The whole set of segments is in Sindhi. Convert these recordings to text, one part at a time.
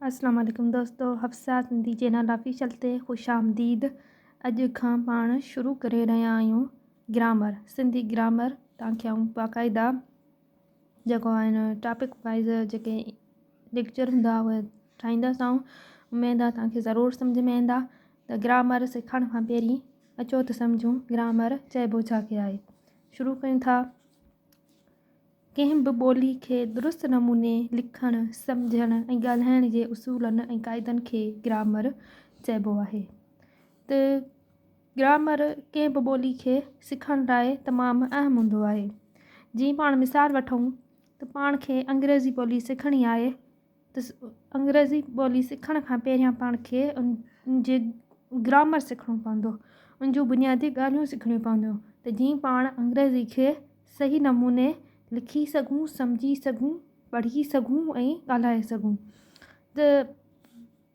السلام عليڪم دوستو حفصه سنڌي چينل آفيشل تي خوش آمديد اڄ کان پاڻ شروع ڪري رهيا آهيون گرامر سنڌي گرامر تان کي آئون باقاعده جيڪو آهن ٽاپڪ وائز جيڪي ليڪچر هوندا اهي ٺاهيندا سان اميد آهي تان کي ضرور سمجھ ۾ ايندا ته گرامر سکڻ کان پهرين اچو ته سمجھون گرامر چئبو ڇا کي آهي شروع ڪيون ٿا ڪنهن به ٻولي کي درست نموني لکڻ، سمجهڻ ۽ ڳالهائڻ جي اصولن ۽ قاعدن کي گرامر چئبو آهي ته گرامر ڪنهن به ٻولي کي سکڻ لاء تمام اهم هوندو آهي جيئن پاڻ مثال وٺون ته پاڻ کي انگريزي ٻولي سکڻي آهي ته انگريزي ٻولي سکڻ کان پهريان پاڻ کي ان جي گرامر سکڻو پوندو ان جون بنيادي ڳالهيون سکڻيون پونديون ته جيئن پاڻ انگريزي کي صحيح نموني لکي سگهون سمجهي سگهون پڙهي سگهون ۽ ڳالهائي سگهون ته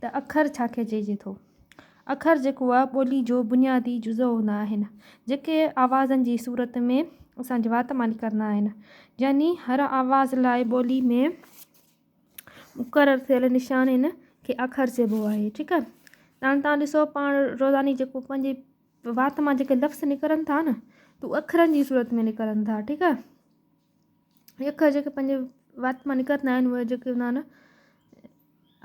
ته اکر ڇا کي چئجي ٿو؟ اکر جيڪو آ ٻولي جو بنيادي جزء هوندا آهن، جيڪي آوازن جي صورت ۾ اسان جي وات مان نڪرندا آهن. يعني هر آواز لاء ٻولي ۾ مقرر ٿيل نشانين کي اکر چئبو آهي. ٺيڪ آهي. هاڻي توهان ڏسو پاڻ روزاني جيڪو پنهنجي وات مان جيڪي لفظ نڪرن ٿا نه، ته اکرن جي صورت ۾ نڪرن ٿا. ٺيڪ آهي. اکر جيڪي پنهنجي وات مان نڪرندا آهن اهي جيڪي هوندا آهن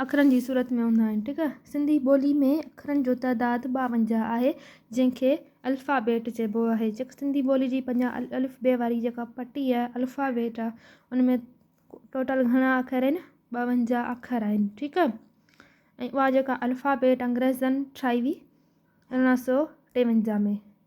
اکرن جي صورت ۾ هوندا آهن ٺيڪ آهي سنڌي ٻولي ۾ اکرن جو تعداد ٻاونجاهه آهي جنهن کي الفا بيٽ چئبو آهي جيڪا سنڌي ٻولي جي پنجاهه الف بي واري جيڪا پٽي آهي الفا بيٽ آهي ان ۾ ٽوٽل گهڻا اکر آهن ٻاونجاهه اکر آهن ٺيڪ آهي ۽ اها جيڪا الفا بيٽ انگريزن ٺاهي هئي ارڙهن سو ٽيونجاهه ۾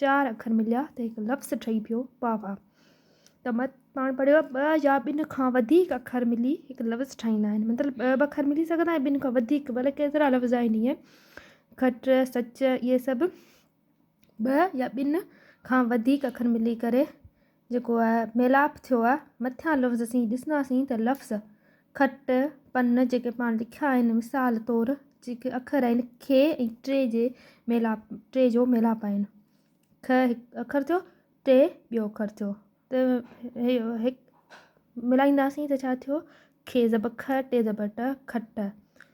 چار اکر مليا ته هڪ لفظ ٺهي پيو پاوا. ته مت پاڻ پڙهيو آهي ٻه يا ٻن کان وڌيڪ اکر ملي هڪ لفظ ٺاهيندا آهن. مطلب ٻه به اکر ملي سگهندا آهن ٻن کان وڌيڪ به الائي ڪيترا لفظ آهن ائين کٽ سچ اهي سڀ ٻه يا ٻن کان وڌيڪ اکر ملي ڪري جيڪو آهي ميلاپ ٿيو آهي مٿيان لفظ اسين ڏسنداسين ته لفظ کٽ پن جيڪي پاڻ لکيا آهن مثال طور جيڪي اکر آهن کي ۽ ٽي جي ميلاپ ٽي جو ميلاپ آهن کھ هڪ اکر ٿيو ٽي ٻيو اکر ٿيو ته هي ملائينداسين ته ڇا ٿيو کي زبر کھ ٽي زبر ٽه کٽ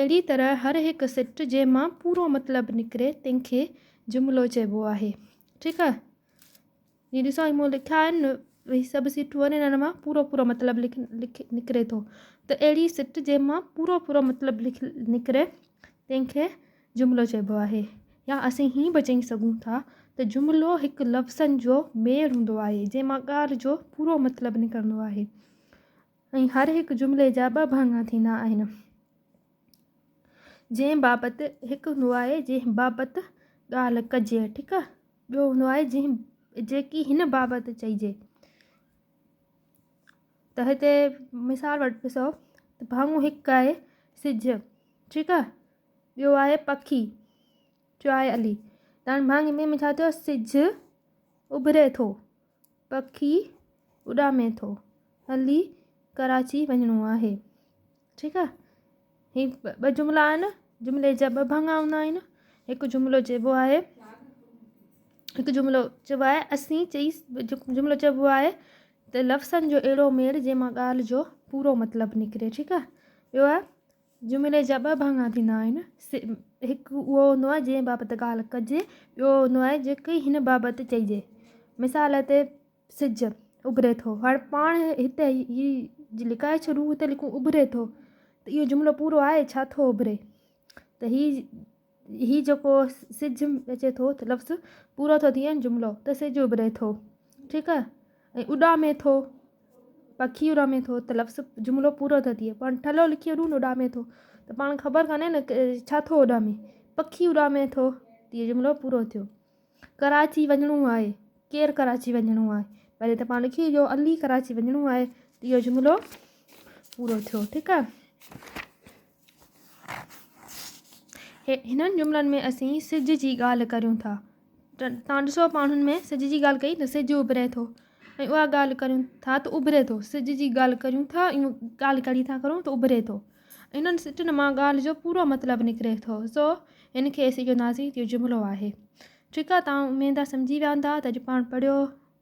اهڙي طرح هر هڪ سٽ جنهن مان پورو مطلب نڪري تنهن کي جملو چئبو آهي ٺيڪ آهي هي ڏسو هي مون لکيا آهن هي سڀ سيٽون آهن انهن مان پورو پورو مطلب لک لک نڪري ٿو ته اهڙي سٽ جنهن مان پورو پورو مطلب لک نڪري تنهن کي جملو چئبو آهي يا اسين هي به چئي سگهون ٿا ته جملو هڪ لفظن جو ميڙ هوندو آهي جنهن مان ڳالهه جو پورو مطلب نڪرندو آهي ۽ هر هڪ جملي جا ٻه ڀاڱا ٿيندا آهن، جنهن بابت هڪ هوندو آهي جنهن بابت ڳالهه ڪجي، ٺيڪ آهي، ٻيو هوندو آهي جنهن جيڪي هن بابت چئجي. ته هتي مثال وٽ ڏسو ته ڀاڱو هڪ آهي سج، ٺيڪ آهي، ٻيو آهي پکي، چيو آهي علي، ته هاڻي ڀاڱي ٻئي ۾ ڇا ٿيو سج اڀري ٿو. پکي اڏامي ٿو هلي ڪراچي وڃڻو آهي ٺيڪ آ هي ٻه جملا آهن جملي جا ٻه ڀڱا هوندا آهن هڪ جملو چئبو آهي هڪ جملو چئبو آهي اسين چئي جملو چئبو آهي ته لفظن جو اهڙو ميڙ جنهن مان ڳالهه جو پورو مطلب نڪري ٺيڪ آ ٻيو آ جملي جا ٻه ڀاڱا ٿيندا آهن. سي، هڪ اهو هوندو آهي جنهن بابت ڳالهه ڪجي، ٻيو اهو هوندو آهي جيڪي هن بابت چئجي. مثال تي، سج اڀري ٿو. هاڻي پاڻ هتي هي جي لڪائي ڇڏون، هتي لکون اڀري ٿو ته اهو جملو پورو آهي، ڇا ٿو اڀري؟ ته هي. هي جيڪو سج اچي ٿو لفظ پورو ٿو ٿئي جملو ته سج اڀري ٿو ٺيڪ آ ۽ اڏامي ٿو پکي اڏامي ٿو ته لفظ جملو پورو ٿو ٿئي پاڻ ٺلهو لکي اڏون اڏامي ٿو ته پاڻ خبر کاني نه ڇا ٿو اڏامي پکي اڏامي ٿو ته جملو پورو ٿيو ڪراچي وڃڻو آهي ڪير ڪراچي وڃڻو آهي پهرين ته پاڻ لکي جو علي ڪراچي وڃڻو آهي ته اهو جملو پورو ٿيو ٺيڪ آ هنن جملن ۾ اسين سج جي ڳالهه ڪريون ٿا. توهان ڏسو ماڻهن ۾ سج جي ڳالهه ڪئي ته سج اڀري ٿو ۽ اها ڳالهه ڪريون ٿا ته اڀري ٿو سج جي ڳالهه ڪريون ٿا ۽ ڳالهه ڪري ٿا ڪرون ته اڀري ٿو انهن سٽن مان ڳالهه جو پورو مطلب نڪري ٿو سو ان کي اسين چونداسين جو جملو آهي ٺيڪ آهي تان اميد آهي سمجهي ويا هوندا ته اڄ پاڻ پڙهيو